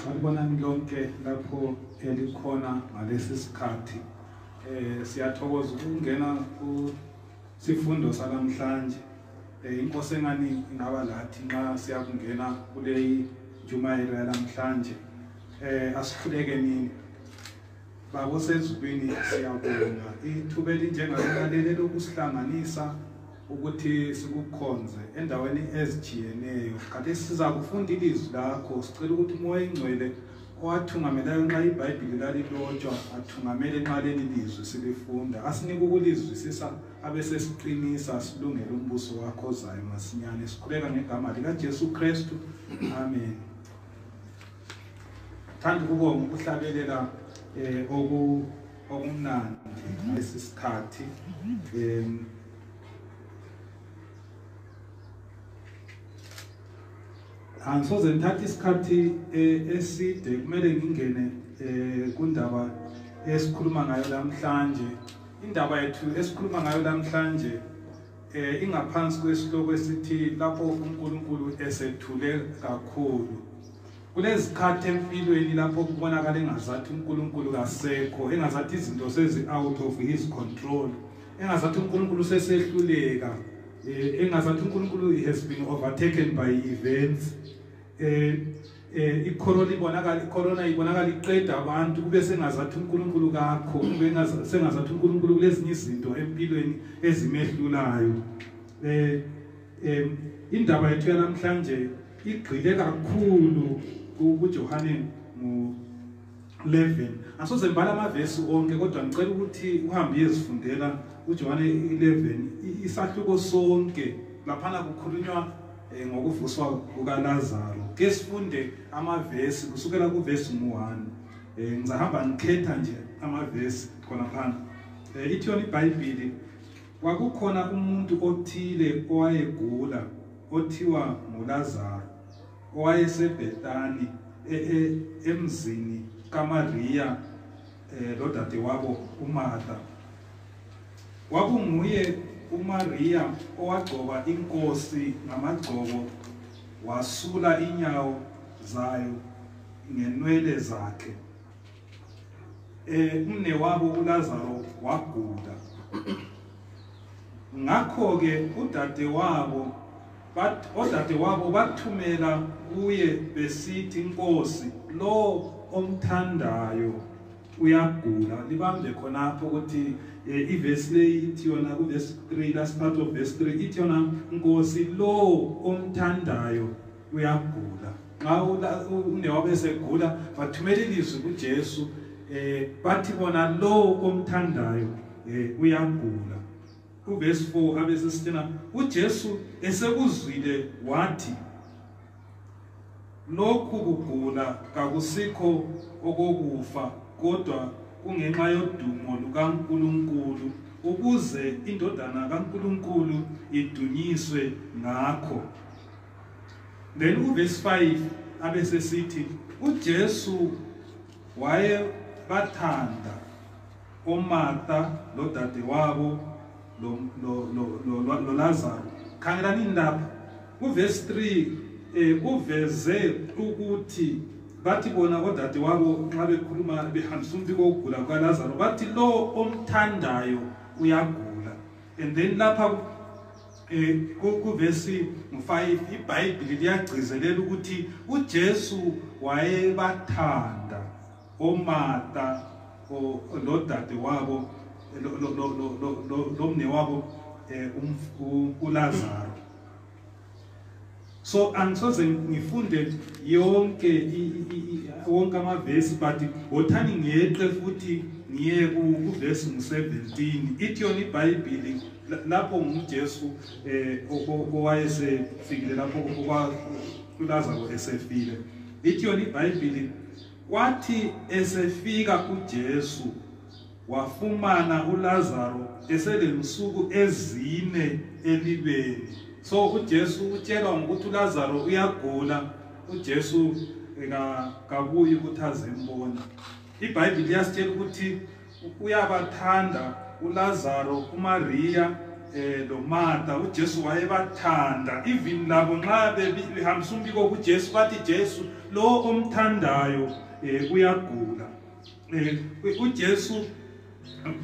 sanibonani lonke lapho elikhona ngalesi sikhathi eh siyathokoza ukungena ku sifundo sanamhlanje eh inkosi engani ingaba lathi nxa siyakungena kuleyi njumayelo yanamhlanje Eh asikhuleke nini. Baba osezulwini siyabonga ithuba elinjengalalele lokusihlanganisa ukuthi sikukhonze endaweni ezijiyeneyo. Kanti siza kufunda ilizwi lakho sicela ukuthi umoya engcwele owathungamelayo nxa iBhayibheli lalilotshwa athungamele nxa leli lizwi silifunda. Asinike ukulizwisisa abesesiqinisa silungele umbuso wakho ozayo masinyane. Sikhuleka ngegama likaJesu Kristu. Amen. thanda ukubonga ukuhlabelela eh, um okumnandi lesi sikhathi um angisoze ngithathe isikhathi eh, eside kumele ngingene eh, kundaba esikhuluma ngayo namhlanje indaba yethu esikhuluma ngayo namhlanje eh ingaphansi kwesihloko esithi lapho uNkulunkulu esethule kakhulu kulezikhathi empilweni lapho kubonakala engazathi uNkulunkulu kasekho engazathi izinto sezi out of his control engazathi uNkulunkulu sesehluleka eh, engazathi uNkulunkulu has been overtaken by events eh eh icorona ibonakala icorona ibonakala iqeda abantu kube sengazathi uNkulunkulu kakho kube sengazathi uNkulunkulu kulezinye izinto empilweni ezimehlulayo eh em indaba yethu yanamhlanje igxile kakhulu kuJohane ngo 11 asoze ngibala amavesi onke kodwa ngicela ukuthi uhambe uyezifundela uJohane 11 isahluko sonke laphana kukhulunywa eh, ngokuvuswa kukaLazaro ke sifunde amavesi kusukela kuvesi 1 eh, ngizahamba ngikhetha nje amavesi khona phansi eh, ithi yona iBhayibheli kwakukhona umuntu othile owayegula othiwa nguLazaro owayesebhetani e, e, emzini kamariya um eh, lodadewabo umartha kwakunguye umariya owagcoba inkosi ngamagcobo wasula inyawo zayo ngenwele zakhe eh umnewabo uLazaro wagula ngakho ke udadewabo odadewabo bathumela kuye besithi inkosi lo omthandayo uyagula libambe khonapho ukuthi eh, ivesi leyi ithi yona kuvesi 3 last part of verse 3 ithi yona nkosi lo omthandayo uyagula nxa unewabo esegula bathumela ilizwi kujesu um eh, bathi bona lowo omthandayo um uyagula kuvesi 4 abesesithena ujesu esekuzwile wathi lokhu kugula kakusikho okokufa kodwa kungenxa yodumo lukaNkuluNkulu ukuze indodana kaNkuluNkulu idunyiswe ngakho then uverse 5 abe sesithi ujesu wayebathanda omarta lodadewabo lolazaro khangelani indaba uverse 3 um eh, uveze ukuthi bathi bona odadewabo nxa bekhuluma behambisa umbiko wokugula kukalazaro bathi lo omthandayo uyagula and then lapha Eh, kuvesi 5 ibhayibhili liyagcizelela ukuthi ujesu wayebathanda omata lodade wabo lomne wabo um ulazaro so angisoze ngifunde yonke wonke amavesi but wothani ngiyeqe futhi ngiye kuvesi ngu-17 ithi yona ibhayibhili lapho ngujesu um owayesefikile lapho kwalazaro esefile ithi yona ibhayibhili kwathi esefika ujesu wafumana uLazaro eselensuku ezine elibeni so uJesu utshelwa ngokuthi uLazaro uyagula uJesu kabuyi ukuthi azembona iBhayibheli liyasitshela ukuthi uyabathanda uLazaro uMariya eh loMartha uJesu wayebathanda even labo nxa behambisa umbiko kuJesu bathi Jesu lo omthandayo eh uyagula eh, uJesu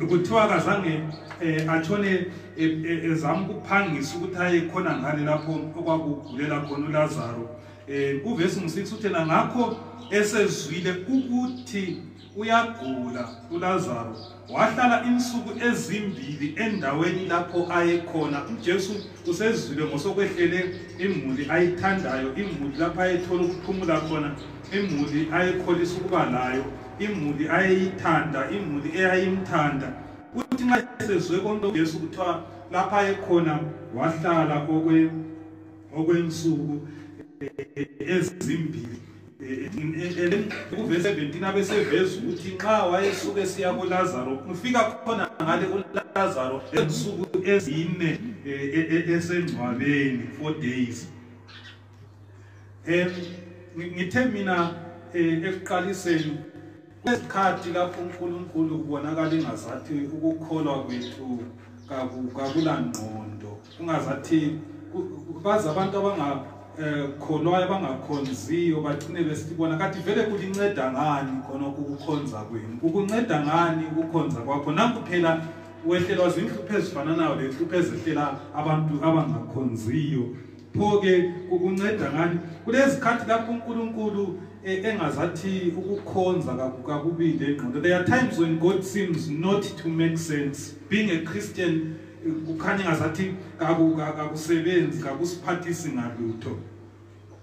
kuthiwa akazange eh, atshone eh, ezama ukuphangisa ukuthi aye khona ngale lapho okwakugulela khona uLazaro um uvesi ngu-six uthena ngakho esezwile ukuthi uyagula uLazaro wahlala insuku ezimbili endaweni lapho ayekhona uJesu usezwile ngosokwehlele imuli ayithandayo imuli lapho ayethola ukuphumula khona imuli ayekholisa ukuba layo imuli ayeyithanda imuli eyayimthanda kuthi nxa esezwe konke ujesu kuthiwa lapha ayekhona wahlala okwensuku eh, ezimbili kuvese 17 abeseveza ukuthi nxa wayesuke esiya kulazaro ufika khona ngale kulazaro ensuku ezine eh, eh, eh, esengcwabeni four days um ngithe mina um ekuqaliseni kwesikhathi lapho unkulunkulu kubonakala ingazathi ukukholwa kwethu kakulangqondo kungazathi bazi abantu abangakholwayo eh, abangakhonziyo bagcine besibona kathi vele kulinceda ngani khonokho ukukhonza kwenu kukunceda ngani ukukhonza kwakho nanku phela wehlelwa zinhlupho ezifananayo lenhlupho ezehlela abantu abangakhonziyo pho ke kukunceda ngani kulezikhathi lapho uNkulunkulu e, engazathi ukukhonza kakubili engqondo there are times when god seems not to make sense being a christian e, kukhanya ngazathi kakusebenzi kakusiphathisi ngalutho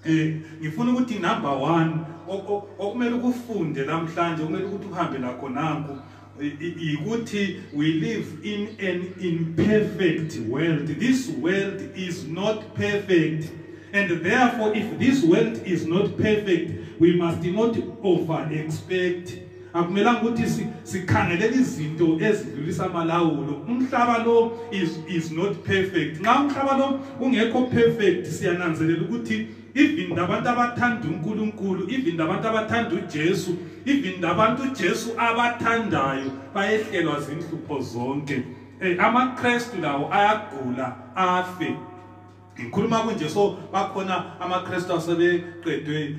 um ngifuna ukuthi number one okumele ukufunde namhlanje okumele ukuthi uhambe lakho nanku yikuthi we live in an imperfect world this world is not perfect and therefore if this world is not perfect we must not over expect akumelanga ukuthi sikhangelela izinto ezidlulisa amalawulo umhlaba lo is is not perfect nxa umhlaba lo ungekho perfect siyananzelela ukuthi even labantu abathanda uNkulunkulu even labantu abathanda uJesu even labantu uJesu abathandayo bayehlelwa zinhlupho zonke eh amaKristu lawo ayagula afe ngikhuluma kunje so bakhona amaKristu asebeqedwe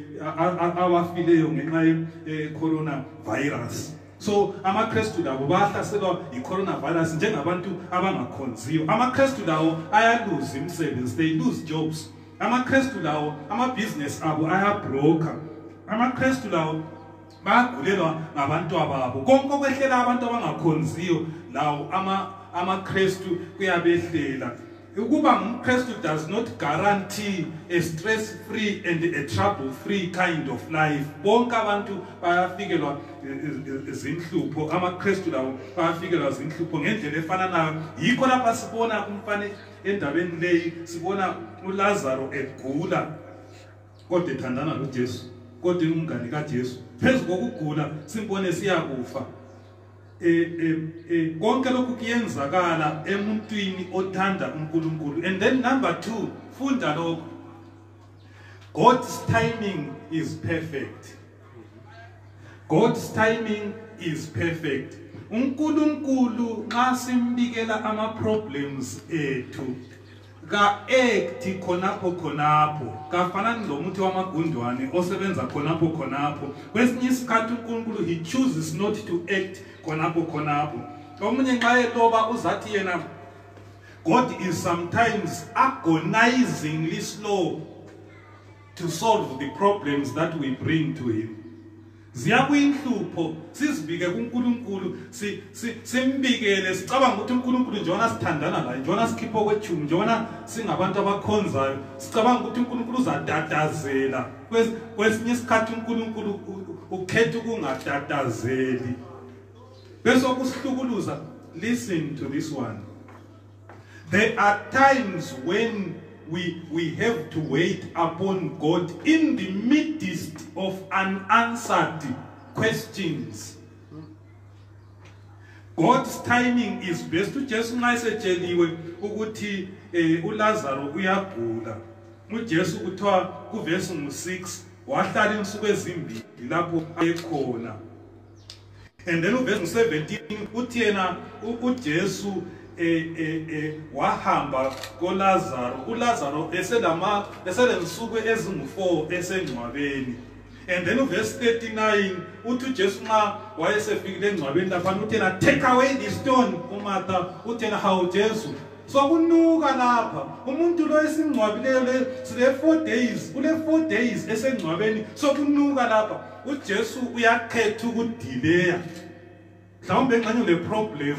awafileyo ngenxa ye eh, corona virus so amakristu labo bahlaselwa yi-coronavirus njengabantu abangakhonziyo amakristu lawo ayaluza imisebenzi they lose jobs amakristu lawo amabhizinesi abo ayabroker amakristu lawo bayagulelwa ngabantu ababo konke okwehlela abantu abangakhonziyo lawo amakristu kuyabehlela ukuba ngumkristu does not guarantee a stress free and a trouble free kind of life bonke abantu bayafikelwa zinhlupho amakristu lawo bayafikelwa zinhlupho ngendlela efananayo yikho lapha sibona umfanekiso endabeni leyi sibona ulazaro egula kodwa ethandana lojesu kodwa ingumngane kajesu phezu kokugula simbone siyakufa e, e, e, konke lokhu kuyenzakala emuntwini othanda unkulunkulu and then number two funda lokho god's timing is perfect God's timing is perfect. uNkulunkulu nxa simbikela ama problems ethu ka act khonapho khonapho kafanani lomuthi wamagundwane osebenza khonapho khonapho kwesinye isikhathi uNkulunkulu he chooses not to act khonapho khonapho omunye nxa eloba uzathi yena God is sometimes agonizingly slow to solve the problems that we bring to him ziyabuya inhlupho sizibike kuNkulunkulu simbikele sicabanga ukuthi uNkulunkulu njengoba sithandana laye njengoba sikhipha okwethumi njengoba singabantu abakhonzayo sicabanga ukuthi uNkulunkulu uzatatazela kwesinye isikhathi uNkulunkulu ukhetha ukungatatazeli bese okusihlukuluza listen to this one There are times when we, we have to wait upon God in the midst of unanswered questions. God's timing is best to just nice cheliwe ukuthi eh, uLazaro uyagula. UJesu kuthiwa kuverse 6 wahlala insuku ezimbili lapho ayekhona. and then uvesi 17 uthi yena ujesu e, e, e, wahamba kolazaro ulazaro eselensuku ezingu-4 esengcwabeni and then uvesi 39 uthi ujesu nxa wayesefikile engcwabeni laphana uthi yena take away the stone umartha uthi yena hawu jesu sokunuka lapha umuntu lo esingcwabileyo le sile-four days kule-four days esengcwabeni sokunuka lapha ujesu uyakhetha ukudileya mhlawumbe nxanye uleproblem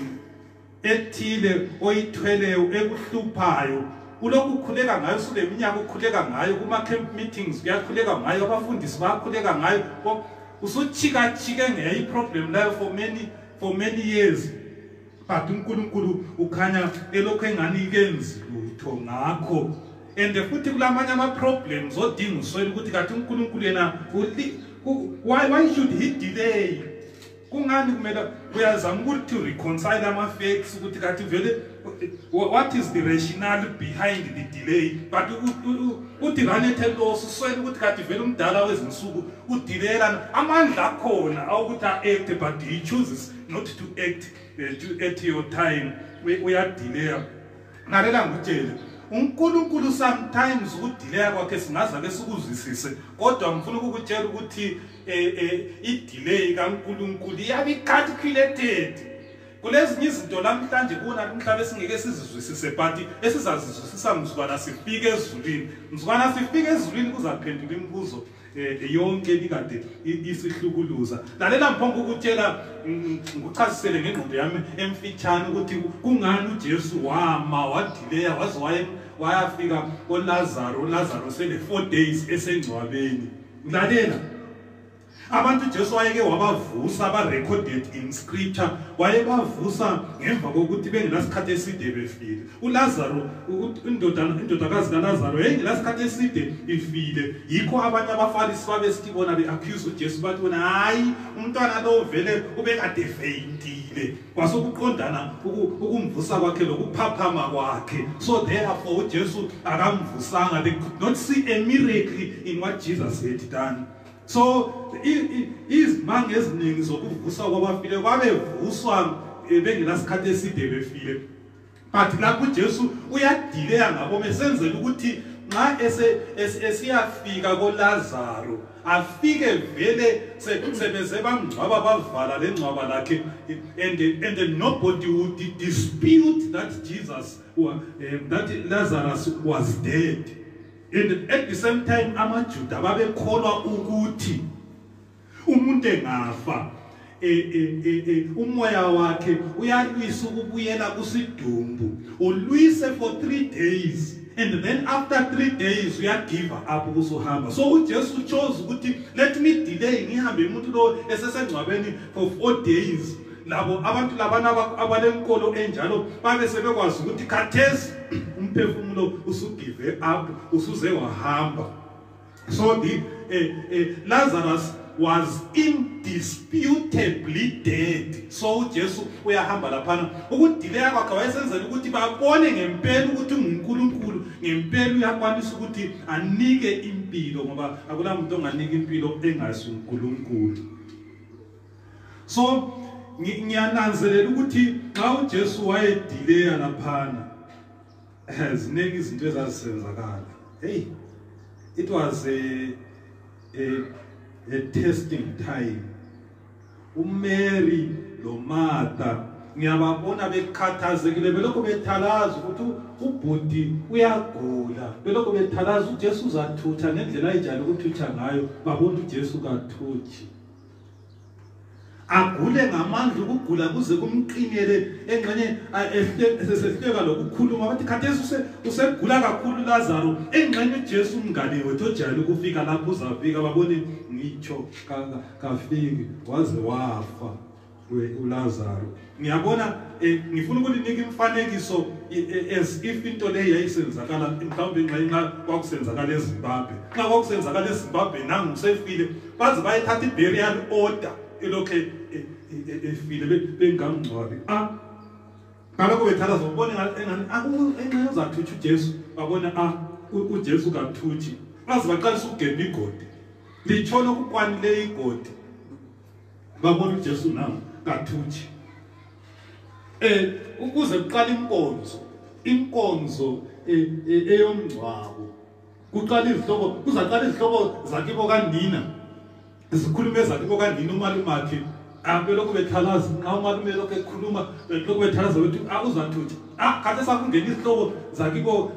ethile oyithweleyo ekuhluphayo ulokhu ukhuleka ngayo suleminyaka ukhuleka ngayo kuma-camp meetings kuyakhuleka ngayo abafundisi bayakhuleka ngayo usutshikatshike ngeyiproblem layo for many for many years but uNkulunkulu ukhanya elokho engani kenzi lutho ngakho and futhi kulamanye ama problems odinga uswela ukuthi kathi uNkulunkulu yena why why should he delay kungani kumele uyazama ukuthi to reconcile ama facts ukuthi kathi vele what is the rationale behind the delay but uthi ranethe loss uswela ukuthi kathi vele umdala wezinsuku udilela amandla akhona awukuthi a act but he chooses not to act uh, to at your time uyadelaya lalela ngitshele uNkulunkulu sometimes ukudelaya kwakhe singaza ke sikuzwisise kodwa ngifuna ukukutshela ukuthi eh, eh, idelay kaNkulunkulu iyabe calculated kulezinye izinto lamhlanje kuna umhlaba esingeke sizizwisise but esizazizwisisa mzukwana sifike ezulwini mzukwana sifike ezulwini kuzaphendula imibuzo eh, eh, yonke ebikade isihlukuluza lalela ngiphonga ukutshela ngikuchazisele ngengqondo yami emfitshane ukuthi kungani ujesu wama wadileya waze waye wayafika olazaro olazaro sele four days esengcwabeni lalela abantu ujesu wayeke wabavusa aba-recorded in scripture wayebavusa ngemva kokuthi bengenasikhathi eside befile uLazaro indoda indodakazi kaLazaro yayingesikhathi eside ifile yikho abanye abaFarisi babesithi bona beaccuse uJesu bathi bona hayi umntwana lo vele ubekade faintile kwasokuqondana ukumvusa kwakhe lokuphaphama kwakhe so therefore uJesu akamvusanga they could not see a miracle in what Jesus had done so izimanga eziningi zokuvusa kwabafile babevuswa eh, bengenasikhathi eside befile but lapho uJesu uyadileya ngabo mesenzela ukuthi nxa esiyafika koLazaro afike vele sebeze bamngcwaba bavala lengcwaba lakhe and and then nobody would dispute that Jesus or um, eh, that Lazarus was dead and at the same time amaJuda babekholwa ukuthi umuntu engafa e, e, e, umoya wakhe uyalwisa ukubuyela kusidumbu ulwise for 3 days and then after 3 days uyagive up ukusuhamba so uJesu chose ukuthi let me delay ngihambe umuntu lo esesengcwabeni for 4 days labo abantu labana abalenkolo enjalo babe sebekwazi ukuthi khathesi umphefumulo usugive up usuze wahamba So the uh, uh, Lazarus was indisputably dead so ujesu uyahamba laphana ukudileya kwakhe wayesenzela ukuthi babone ngempela ukuthi ungunkulunkulu ngempela uyakwanisa ukuthi anike impilo ngoba akula muntu onganika impilo engazi unkulunkulu so ngiyananzelela ukuthi xa ujesu wayedileya laphana ziningi izinto ezazisenzakala hey it was a a, a testing time umary lomartha ngiyababona bekhathazekile belokhu bethalaza ukuthi ubhuti uyagula belokhu bethalaza ujesu uzathutha ngendlela ayijale ukuthutha ngayo babona ujesu kathuthi agule ngamandla ukugula kuze kumqinele engxenye esesehleka lokukhuluma bathi khathesi usegula kakhulu Lazaro engxenye uJesu umngane wethu ojayele ukufika lapho uzafika babone ngitsho kafiki waze wafa uLazaro ngiyabona eh, ngifuna ukulinika imfanekiso eh, eh, as if into leyi yayisenzakala mhlawumbe nxa nxa kwakusenzakala ezimbabwe nxa kwakusenzakala ezimbabwe nangu usefile baze bayethatha iburial order elokhu efile bengamngcwabi ah, ngalokho bethatha zobone engani ah, enxa uzathutsha ujesu babona a ah, ujesu kathutshi baze baqalisa ukugemba igodi litshona okukwanileyo igodi babona uJesu na kathuthi eh ukuze kuqala inkonzo inkonzo eh, eh, eyomngcwabo kuqala izihloko kuzaqala izihloko zakibo kanina zikhuluma ezakibo kanina umalumakhe abelokhu bethalaza nxa umalume lokhu ekhuluma lokhu bethalaza ukuthi awuzathuthi ah, ah khathesi akungena izihloko zakibo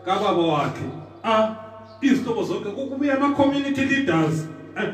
kababa wakhe a ah, izihloko zonke kubuya ama-community leaders eh,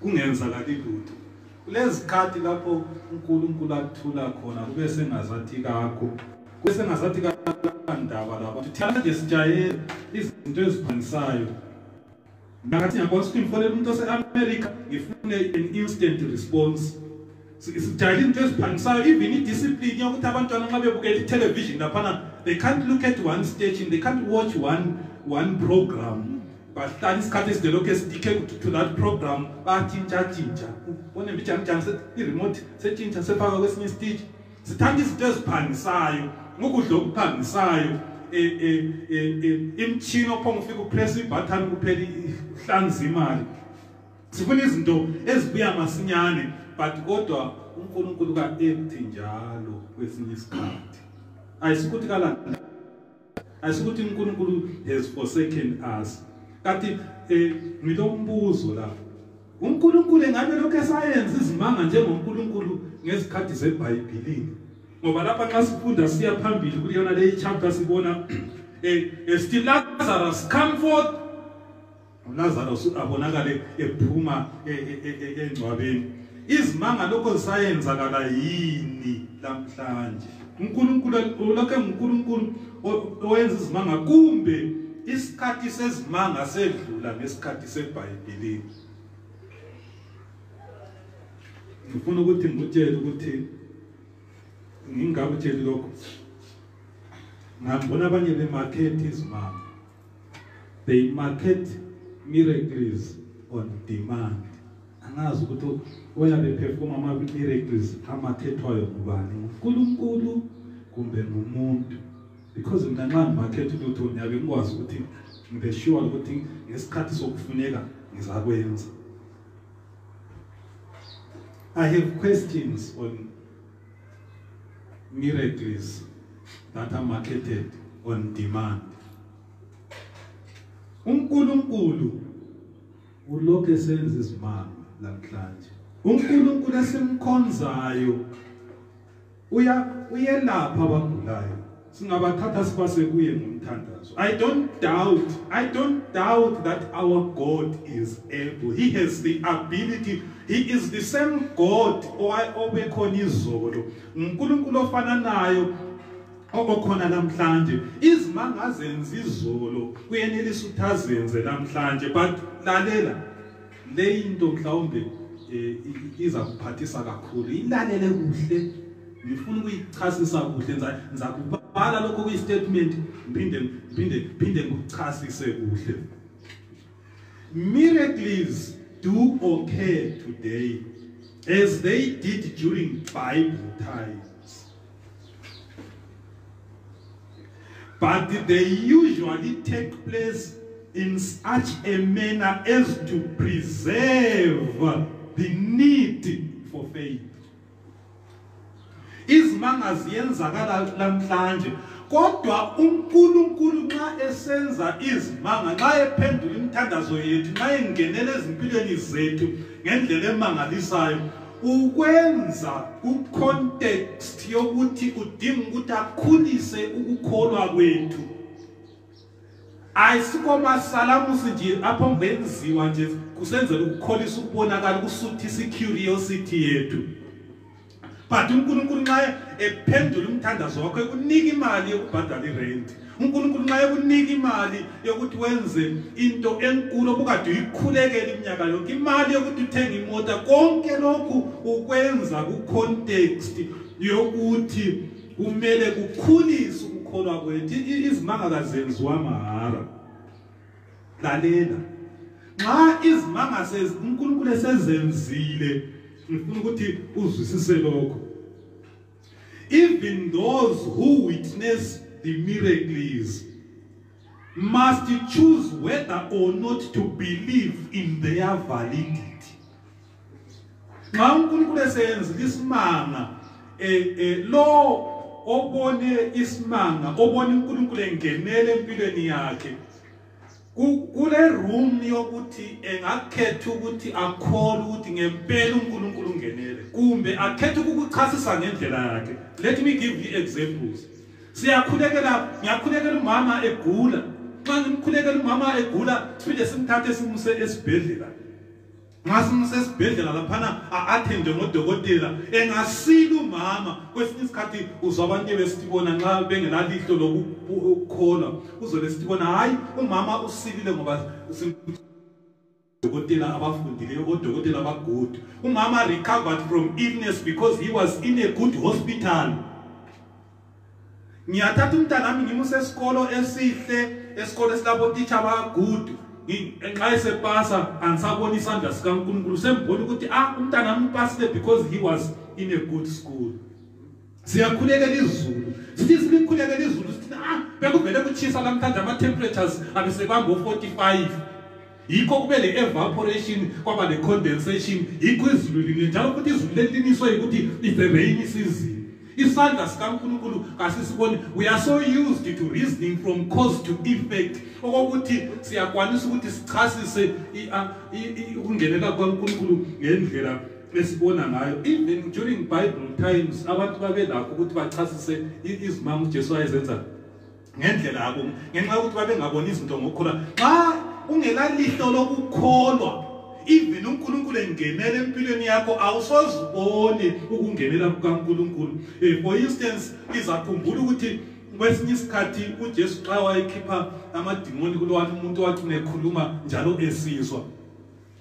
kungenzakali lutho kulezikhathi lapho uNkulunkulu athula khona kube sengazathi kakho kube sengazathi kakandaba lapho thina nje sijayele izinto eziphangisayo ngakathi ngiyakwazi ukuthi ngifonele umuntu ose-america ngifune an instant response sijayela into eziphangisayo even idiscipline yokuthi abantwana nxa bebukela itelevision laphana they can't look at one station they can't watch one, one program bahlala isikhathi eside lokhu esitike to that program batshintshatshintsha bone mbijanijani iremote setshintsha sefaka kwesinye isiteji sithanda izinto eziphangisayo ngokudla okuphangisayo e, e, e, imtshini ophonga ufika upress ibhathani kuphela ihlanza imali sifuna izinto ezibuya masinyane but kodwa uNkulunkulu ka empty njalo kwesinye isikhathi ayisikuthi kalanda ayisikuthi uNkulunkulu has forsaken us kanti eh ngilombuzo la uNkulunkulu engabe lokho esayenza izimanga njengoNkulunkulu ngezikhathi zeBhayibhelini ngoba lapha nxa sifunda siya phambili kuleyona leyi chapter sibona eh, eh still Lazarus come forth uLazarus abonakale ephuma e, e, e, engcwabeni izimanga lokho zisayenzakala yini lamhlanje uNkulunkulu ulokhe uNkulunkulu owenza izimanga kumbe isikhathi sezimanga sedlula ngesikhathi seBhayibheli ngifuna ukuthi ngikutshele ukuthi ngingakutsheli lokho ngambona abanye bemakhethi izimanga they market miracles on demand angazi ukuthi oyabe perform ama miracles amakhethwayo ngubani uNkulunkulu kumbe ngumuntu because mina nxa ngimakhetha ukuthi ngiyabe ngikwazi ukuthi ngibe sure ukuthi ngesikhathi sokufuneka ngizakwenza I have questions on miracles that are marketed on demand uNkulunkulu ulokhu esenza izimanga namhlanje uNkulunkulu esimkhonzayo uya uyelapha abagulayo singabathatha sibase kuye ngomthandazo i don't doubt i don't doubt that our god is able he has the ability he is the same god obekhona izolo unkulunkulu ofananayo okokhona namhlanje izimanga azenza izolo kuyenelisa ukuthi azenze namhlanje but lalela leyi into mhlawumbe eh, iza kuphathisa kakhulu ilalele kuhle ngifuna ukuyichasisa kuhle ngizakubhala lokho kuyi-statement ngiphinde ngiphinde ngiphinde ngikuchasise kuhle miracles do occur today as they did during bible time But they usually take place in such a manner as to preserve the need for faith. izimanga ziyenzakala namhlanje kodwa uNkulunkulu nxa esenza izimanga nxa ephendula imithandazo yethu nxa engenela ezimpilweni zethu ngendlela emangalisayo ukwenza kucontext yokuthi udinga ukuthi akhulise ukukholwa kwethu ayisikho masalamusi nje apho ngenziwa nje kusenzela ukukholisa ukubonakala ukusuthisa icuriosity yethu but uNkulunkulu nxa ephendula umthandazo wakho ekunika imali yokubhadala irent unkulunkulu nxa ekunika imali yokuthi wenze into enkulu obukade uyikhulekela iminyaka yonke imali yokuthi uthenge imota konke lokhu ukwenza kucontext yokuthi kumele kukhulise ukukholwa kwethu izimanga kazenziwa mahara lalela nxa izimanga unkulunkulu esezenzile ngifuna ukuthi uzwisise lokho Even those who witness the miracles must choose whether or not to believe in their validity. Nxa uNkulunkulu esenza isimanga eh eh lo obone isimanga obone uNkulunkulu engenele empilweni yakhe kule room yokuthi engakhetha ukuthi akhole ukuthi ngempela uNkulunkulu ungenele kumbe akhethe ukukuchasisa ngendlela yakhe let me give you examples siyakhulekela ngiyakhulekela umama egula nxa ngimkhulekela umama egula siphinde simthathe simuse esibhedlela nxa simsesibhedlela laphana a-athende ngodokotela engasili umama kwesinye isikhathi uzwa abantu ebesithi bona nxa bengelalihlo lokukholwa uzobe sithi bona hhayi umama usilile ngoba odokotela abafundileyo odokotela abagood umama recovered from illness because he was in a good hospital ngiyathatha umntanami ngimuse esikolo esihle esikolo esilabo teacher abagudu nxa esepasa angisabona isandla sikaNkulunkulu sembona ukuthi ah umntanami upasile because he was in a good school siyakhulekela izulu sithi silikhulekela izulu sithi ah bekuvele kutshisa lamhlanje ama temperatures abesekwango 45 yikho kube le-evaporation kwaba ne-condensation yikho izulu line njalo futhi izulu leliniswe yikuthi it's a rainy season isandla sikankulunkulu kasisiboni we are so used to reasoning from cause to effect okokuthi siyakwanisa ukuthi sichasise ukungenela kwankulunkulu ngendlela esibona ngayo even during bible times abantu babelakho ukuthi bachasise izimanga ujesu ayezenza ngendlela yabo ngenxa yokuthi babengaboni izinto ngokukhula xa ungelalihlo lokukholwa even unkulunkulu engenela empilweni yakho awusoziboni ukungenela kukankulunkulu um for instance izakhumbula ukuthi kwesinye isikhathi ujesu xa wayekhipha amadimoni kulowani umuntu wathi unekhuluma njalo esizwa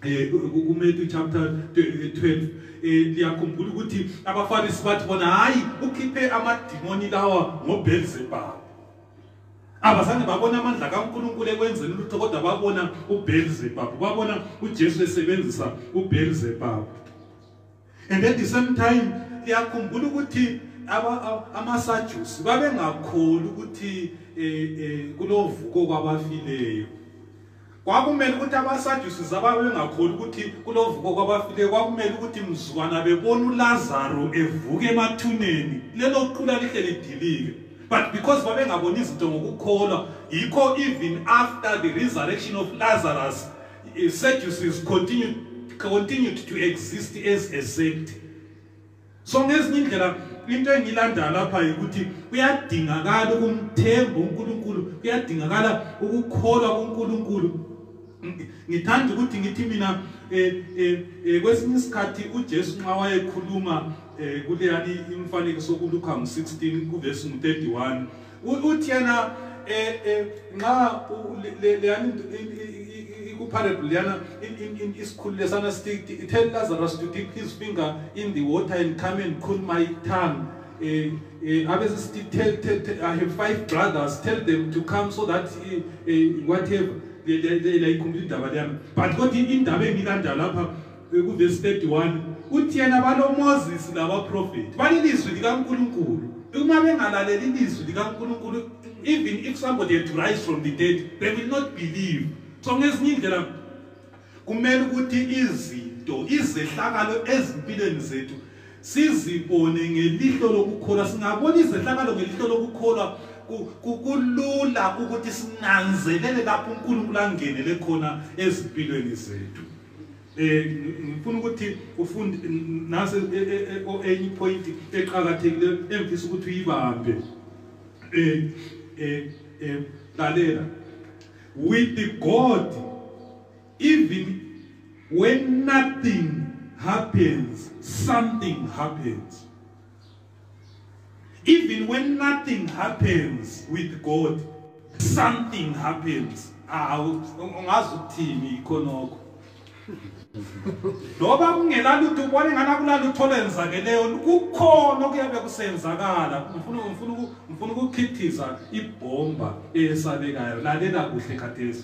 eh, kuMatthew chapter 12 eh liyakhumbula ukuthi abaFarisi bathi bona hayi ukhiphe amadimoni lawa ngoBelzebub abazange babona amandla kaNkuluNkulu ekwenzeni lutho kodwa babona uBelzebub babona uJesu esebenzisa uBelzebub and at the same time liyakhumbula ukuthi amasajusi babengakholi ukuthi eh, eh, kulovuko kwabafileyo kwakumele ukuthi abasajusi zaba bengakholi ukuthi kulovuko kwabafileyo kwakumele ukuthi mzukwana bebona ulazaro evuka emathuneni lelo qula lihle lidilike but because babengaboni izinto ngokukholwa yikho even after the resurrection of lazarus Sadducees continued, continued to exist as a sect. So ngezinye indlela into engilanda lapha yikuthi kuyadingakala ukumthemba uNkulunkulu, kuyadingakala ukukholwa uNkulunkulu. Ngithanda ukuthi ngithi mina eh eh, eh kwesinye isikhathi uJesu nxa wayekhuluma eh kuleyani imfanekiso kuLuka 16 kuverse 31 U- uthi yena eh eh nxa u- le- le- leyana ind- i- i- i- i- kuparable leyana in- in- in- isikhulu lesana sithi i- tell lazarus to dip his finger in the water and come and cool my tongue eh eh abese sithi tell, tell, tell i have five brothers tell them to come so that eh, eh, whatever leyikhumbula indaba leyami but kodwa indaba engilandala lapha Ekuvesi 31 uthi yena baloMoses labaprofethi balilizwi likaNkulunkulu uma bengalaleli ilizwi likaNkulunkulu even if somebody had to rise from the dead they will not believe so ngezinye indlela kumele ukuthi izinto izehlakalo ezimpilweni zethu sizibone ngelihlo lokukholwa singabona izehlakalo ngelihlo lokukholwa kulula ukuthi sinanzelele lapho uNkulunkulu angenele khona ezimpilweni zethu eh ngifuna ukuthi ufunde nase e, e, e, o enye point eqhakathekileyo engifisa ukuthi uyibambe eh eh eh lalela with the god even when nothing happens something happens Even when nothing happens with God, something happens. Ah, ungazi ukuthini ikhonoko. Loba kungela lutho ubone ngana kula lutho lenzakeleyo kukhona okuyabe kusenzakala. Ngifuna ngifuna ngifuna ukukhithiza ibhomba esabekayo. Lalela kuhle khathesi.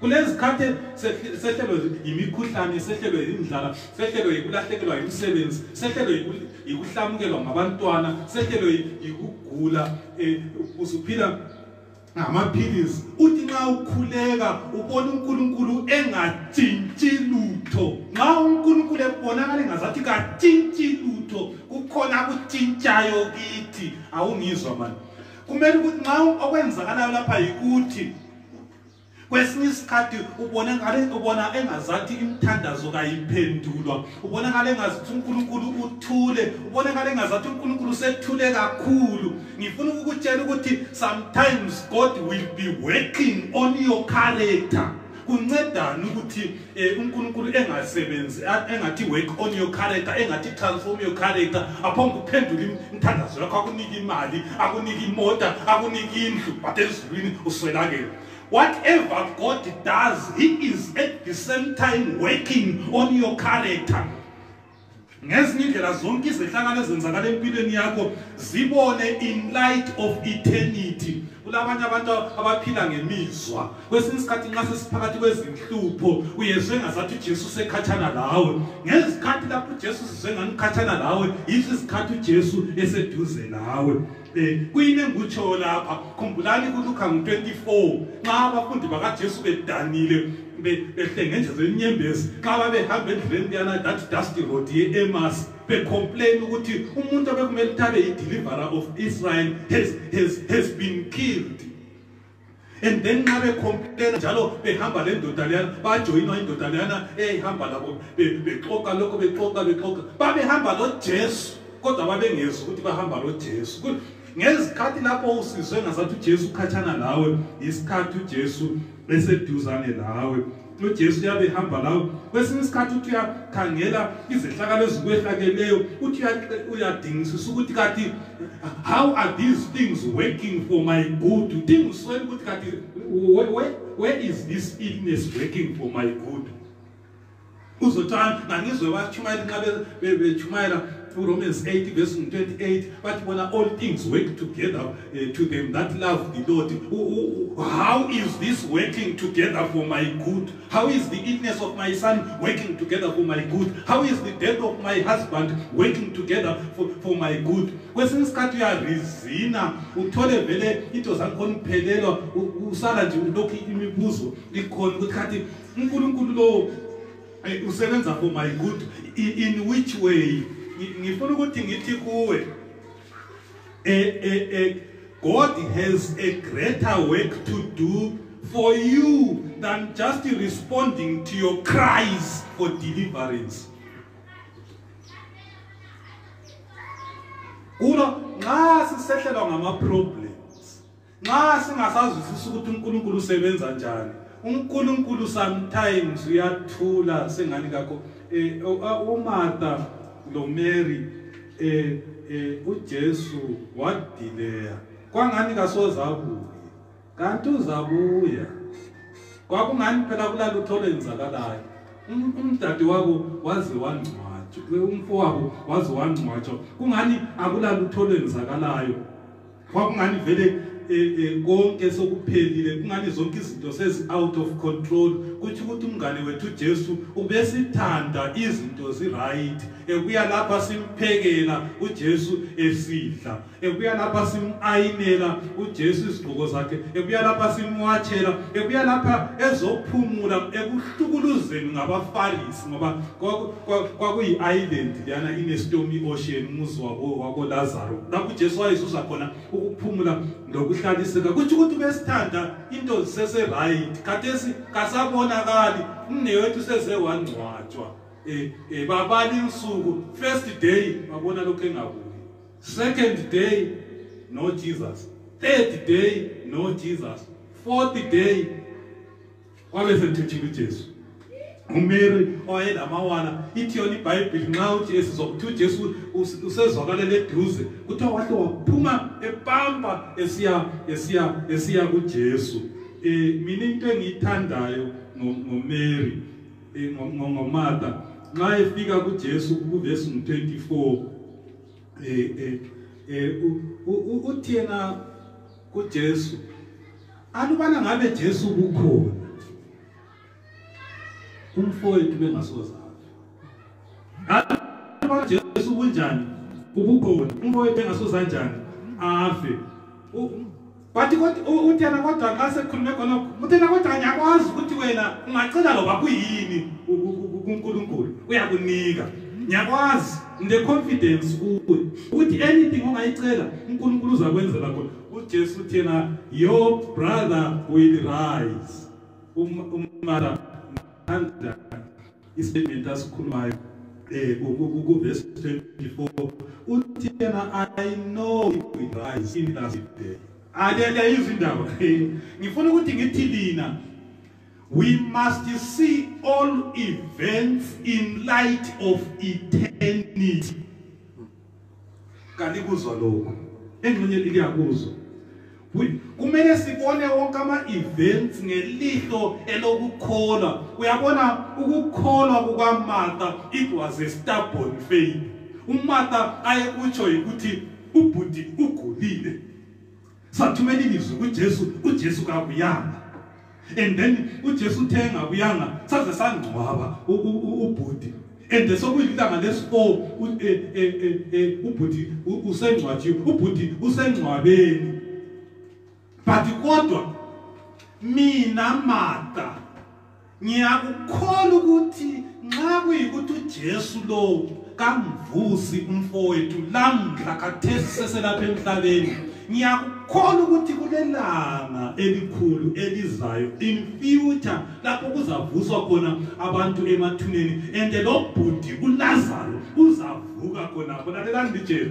kulezikhathi sehlelwe yimikhuhlane sehlelwe yindlala sehlelwe yikulahlekelwa yimisebenzi sehlelwe yikuhlamukelwa ngabantwana sehlelwe yikugula um usuphila ngamaphilisi uthi nxa ukhuleka ubona unkulunkulu engatshintshi lutho nxa unkulunkulu ebonakala engazathi katshintshi lutho kukhona akutshintshayo kithi awungizwa mani kumele ukuthi nxa okwenzakalayo lapha yikuthi kwesinye isikhathi ubonakale ubona engazathi imithandazo kayiphendulwa ubonakale engazathi uNkulunkulu uthule ubonakale engazathi uNkulunkulu sethule kakhulu ngifuna ukukutshela ukuthi sometimes God will be working on your character kuncedani ukuthi Eh, unkulunkulu engasebenzi engathi work on your character engathi transform your character aphanga ukuphendula imthandazo yakho akunika imali akunika imota akunika indlu but ezulwini uswelakele whatever god does he is at the same time working on your character ngezinye indlela zonke izehlakalo ezenzakala empilweni yakho zibone in light of eternity kulabanye abantu abaphila ngemizwa kwesinye isikhathi nxa sesiphakathi kwezinhlupho uyezwe ngazathi ujesu usekhatshana lawe ngezikhathi lapho ujesu sizwe nganikhatshana lawe yizo izikhathi ujesu eseduze lawe Eh, kuyini engikutshoyo lapha khumbulani kulukha ngu-24 nxa abafundi bakajesu bedanile behlengenjezwe inyembezi nxa babehamba endleleni kuyana that dusty road ye-emas becomplain ukuthi umuntu obekumele ukuthi abe yi-deliverer of israel has, has, has been killed and then nxa bekhomputela njalo behamba lendoda leyana bajoyinwa indoda leyana eyayihamba labo bexoka lokho bexoka bexoka babehamba lojesu kodwa babengezi ukuthi bahamba lojesu ngezikhathi lapho usizwe ngazathi ujesu ukhatshana lawe yisikhathi ujesu eseduzane lawe nojesu uyabehamba lawo kwesinye isikhathi uthi uyakhangela izehlakalo ezikwehlakeleyo uthi uyadingisisa ukuthi kati how are these things working for my good udingisweni ukuthi kati where is this illness working for my good uzothi ngangizwe batshumayela nxa betshumayela to Romans 8, verse 28, but when all things work together uh, to them that love the Lord, how is this working together for my good? How is the illness of my son working together for my good? How is the death of my husband working together for, for my good? kwesinye isikhathi uyarizina uthole vele into zakhona uphelelwa usala nje ulokhu imibuzo ikhona ukuthi khathi unkulunkulu lowo Eh, usebenza for my good in, in which way Ngi- ngifuna ukuthi ngithi kuwe eh, eh, eh, god has a greater work to do for you than just responding to your cries for deliverance kulo nxa sisehlelwa ngama-problem nxa singasazwisisa ukuthi unkulunkulu usebenza njani unkulunkulu sometimes uyathula sengani kakho um umartha lomary um um ujesu wadileya kwangani kasozabuye kanti uzabuya kwakungani phela kulalutho olwenzakalayo um, umdade wabo waze wangcwatshwa umfowabo waze wangcwatshwa kungani akulalutho olwenzakalayo kwakungani vele e, e, konke sokuphelile kungani zonke izinto sezi out of control kuthi ukuthi umngane wethu uJesu ubesithanda izinto zi right ekuya lapha simphekela uJesu esidla ekuya lapha simayinela uJesu izigqoko zakhe ekuya lapha simwatshela ekuya lapha ezophumula ekuhlukuluzeni ngabafarisi ngoba kwakuyi-island leyana inestomy ocean umuzi wakolazaro lapho ujesu wayezuza khona ukuphumula nokuhlaliseka kutsho ukuthi besithanda into ziseseright khathesi kasabonakali umne wethu seze wangcwatshwa um um babala insuku first day babona lokhu engabuki second day no jesus third day no jesus fourth day wabe semthethile uJesu uMary owayelamawana ithi yona iBhayibheli nxa uthi esizwa ukuthi uJesu usezwakalela eduze kuthiwa wahle waphuma epampa esiya esiya esiya kuJesu eh mina into engiyithandayo ngoMary eh, ngoMartha nxa efika kuJesu kuvesi 24 eh eh, eh uthi yena kuJesu alubana ngabe Jesu kukhona umfowethu bengasoza alubana Jesu kunjani ubukhona umfowethu engasoza njani afe bathi uthena kodwa nxa sekhulume khonokho uthena kodwa ngiyakwazi ukuthi wena ungacela loba kuyini kunkulunkulu uyakunika ngiyakwazi ngine confidence kuwe ukuthi anything ongayicela uNkulunkulu uzakwenzela khona uJesu uthena your brother will rise umara anda istatement asikhulumayo eh ku verse 24 uthena i know it will rise in that day alele izindaba ngifuna ukuthi ngithi lina We must see all events in light of eternity. Kalikuzwa lokho. Engxenye liyakuzwa. kumele sibone wonke ama-events ngelihlo elokukholwa uyabona ukukholwa kukamartha it was a stubborn faith umartha ayekutsho yikuthi ubhuti ugulile sathumela ilizwi kuJesu uJesu kakuyanga and then uJesu uthe ngakuyanga saze sangcwaba ubhuti and sokuyilanga lesipo e, e, e, ubhuti usengcwaji ubhuti usengcwabeni but kodwa mina mata ngiyakukholwa ukuthi nxa kuyikuthi uJesu lo kamvusi umfowethu lamhla khathesi seselapha emhlabeni ngiyakukholwa ukuthi kulelanga elikhulu elizayo in future lapho kuzavuswa khona abantu emathuneni and lo bhuti uLazaro uzavuka khona khona lelani litshela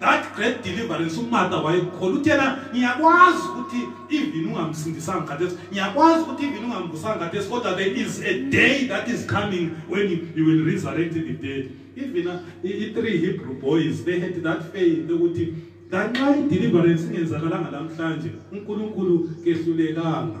that great deliverance umarta wayekhola uthi yena ngiyakwazi ukuthi even ungamsindisanga khathesi ngiyakwazi ukuthi even ungambusanga khathesi kodwa there is a day that is coming when you will resurrect the dead even uh, i-three hebrew boys they had that faith ukuthi kanxa i-deliverance ingenzakalanga namhlanje unkulunkulu kehlulekanga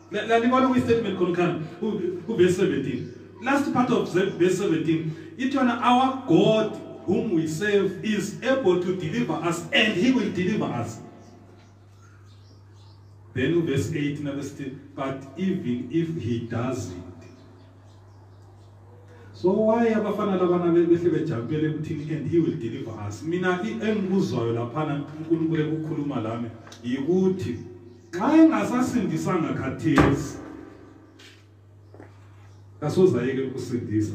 lalibona kwi-statement khonikhani kuvesi 17 last part of verse 17 ithi yona our god whom we serve is able to deliver us and he will deliver us then uverse 8 naverse 10 but even if he does it so why abafana labana behle bejampele ekuthini and he will deliver us mina engikuzwayo laphana unkulunkulu ekukhuluma lami yikuthi nxa engasasindisanga khathesi kasozayeke ukusindisa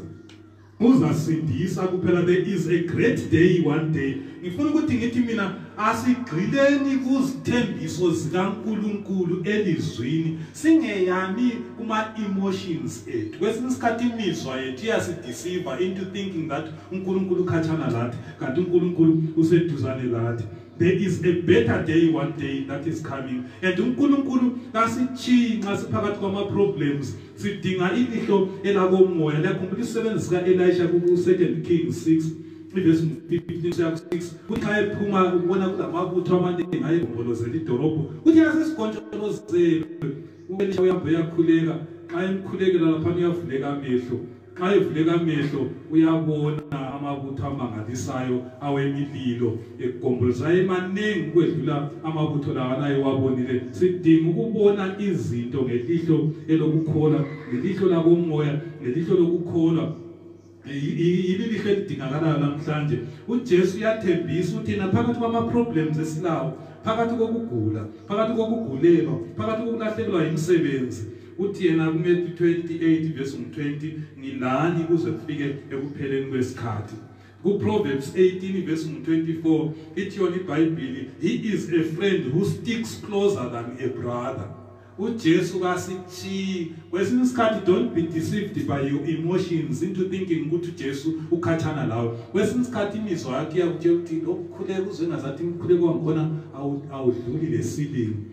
uzasindisa kuphela there is a great day one day ngifuna ukuthi ngithi mina asigxileni kuzithembiso zikaNkuluNkulu elizwini singeyami kuma emotions ethu kwesinye isikhathi imizwa yethu iyasideceive into thinking that uNkuluNkulu ukhatshana lathi kanti uNkuluNkulu useduzane lathi there is a better day one day that is coming and uNkulunkulu kasitshiyi nxa siphakathi kwama problems sidinga ilihlo elakomoya liyakhumbula isisebenzi sika Elisha ku 2 Kings 6 ivesi 15 siya 6 kuthi ayephuma ubona kulamabutho amaningi ayegombolozela idolobho kuthi yasesigontsholozele uElisha uyakhuleka xa emkhulekela lapha uyavuleka amehlo nxa evuleka amehlo uyabona amabutho amangalisayo awemililo egombolozayo emanengi ukwedlula amabutho lawa naye wabonile sidinga ukubona izinto ngelihlo elokukholwa ngelihlo lakomoya ngelihlo lokukholwa yililihlo elidingakalayo namhlanje ujesu uyathembisa ukuthi yena phakathi kwama-problems esilawo phakathi kokugula phakathi kokugulelwa phakathi kokulahlekelwa yimisebenzi uthi yena kuMethi 28 verse 20 ngilani kuze kufike ekupheleni kwesikhathi kuProverbs 18 verse 24 ithi yona iBhayibheli he is a friend who sticks closer than a brother uJesu kasithi kwesinye isikhathi don't be deceived by your emotions into thinking ukuthi uJesu ukhathana lawe kwesinye isikhathi imizwa yakhe yakutshela ukuthi okukhuleka uzwe ngazathi imkhuleko wangikhona awudluli lesilingo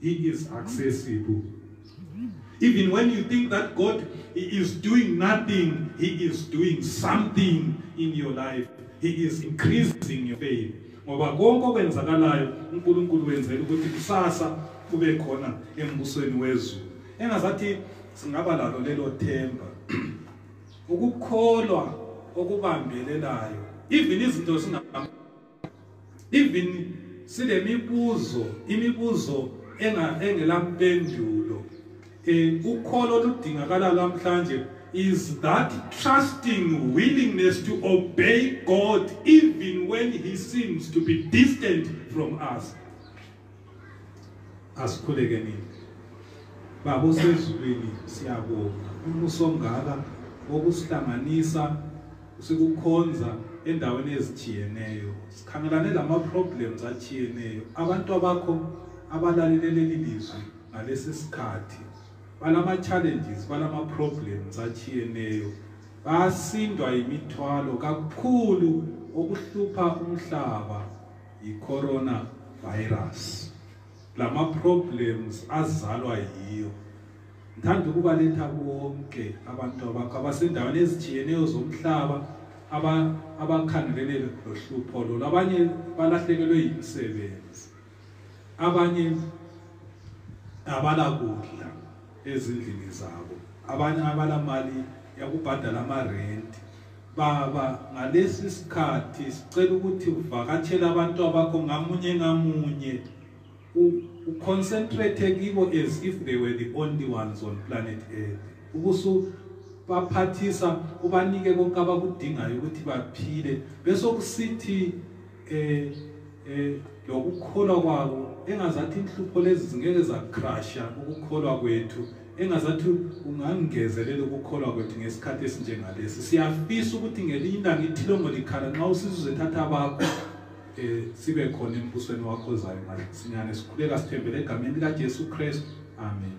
He is accessible. Even when you think that God is doing nothing, He is doing something in your life. He is increasing your faith. ngoba konke okwenzakalayo uNkulunkulu wenzela ukuthi kusasa kube khona embusweni wezulu engazathi singaba lalo lelo themba ukukholwa okubambelelayo even izinto singa even silemibuzo imibuzo enga engela mpendulo eh ukholo ludingakala lamhlanje is that trusting willingness to obey God even when he seems to be distant from us asikhuleke nini baba usezulwini siyabonga umuso ongaka wokusihlanganisa sikukhonza endaweni ezithiyeneyo sikhangelane lama-problems athiyeneyo abantu abakho abalalele leli lizwi ngalesi sikhathi balama-challenges balama-problems athiyeneyo basindwa yimithwalo kakhulu okuhlupha umhlaba yicorona virus lama problems azalwa yiyo ngithanda ukubaletha bonke abantu abakho abasendaweni ezitshiyeneyo zomhlaba abakhangelele lohlupho lolu abanye balahlekelwe yimisebenzi abanye abalakudla ezindlini zabo abanye abalamali yakubhadala amarenti Baba, ngalesi sikhathi sicela ukuthi uvakatshele abantu abakho ngamunye ngamunye uconcentrate kibo as if they were the only ones on planet earth ubusu baphathisa ubanike konke abakudingayo ukuthi baphile besokusithi eh eh lokukholwa kwabo engazathi inhlupho lezi zingeke zacrasha ukukholwa kwethu engazathi ungangezelela ukukholwa kwethu ngesikhathi esinjengalesi siyafisa ukuthi ngelinye ilanga ithilongo likhala nxa usizuze thatha bakho eh sibe khona embusweni wakho zayo masinyane sikhuleka sithembele egameni lika Jesu Christ amen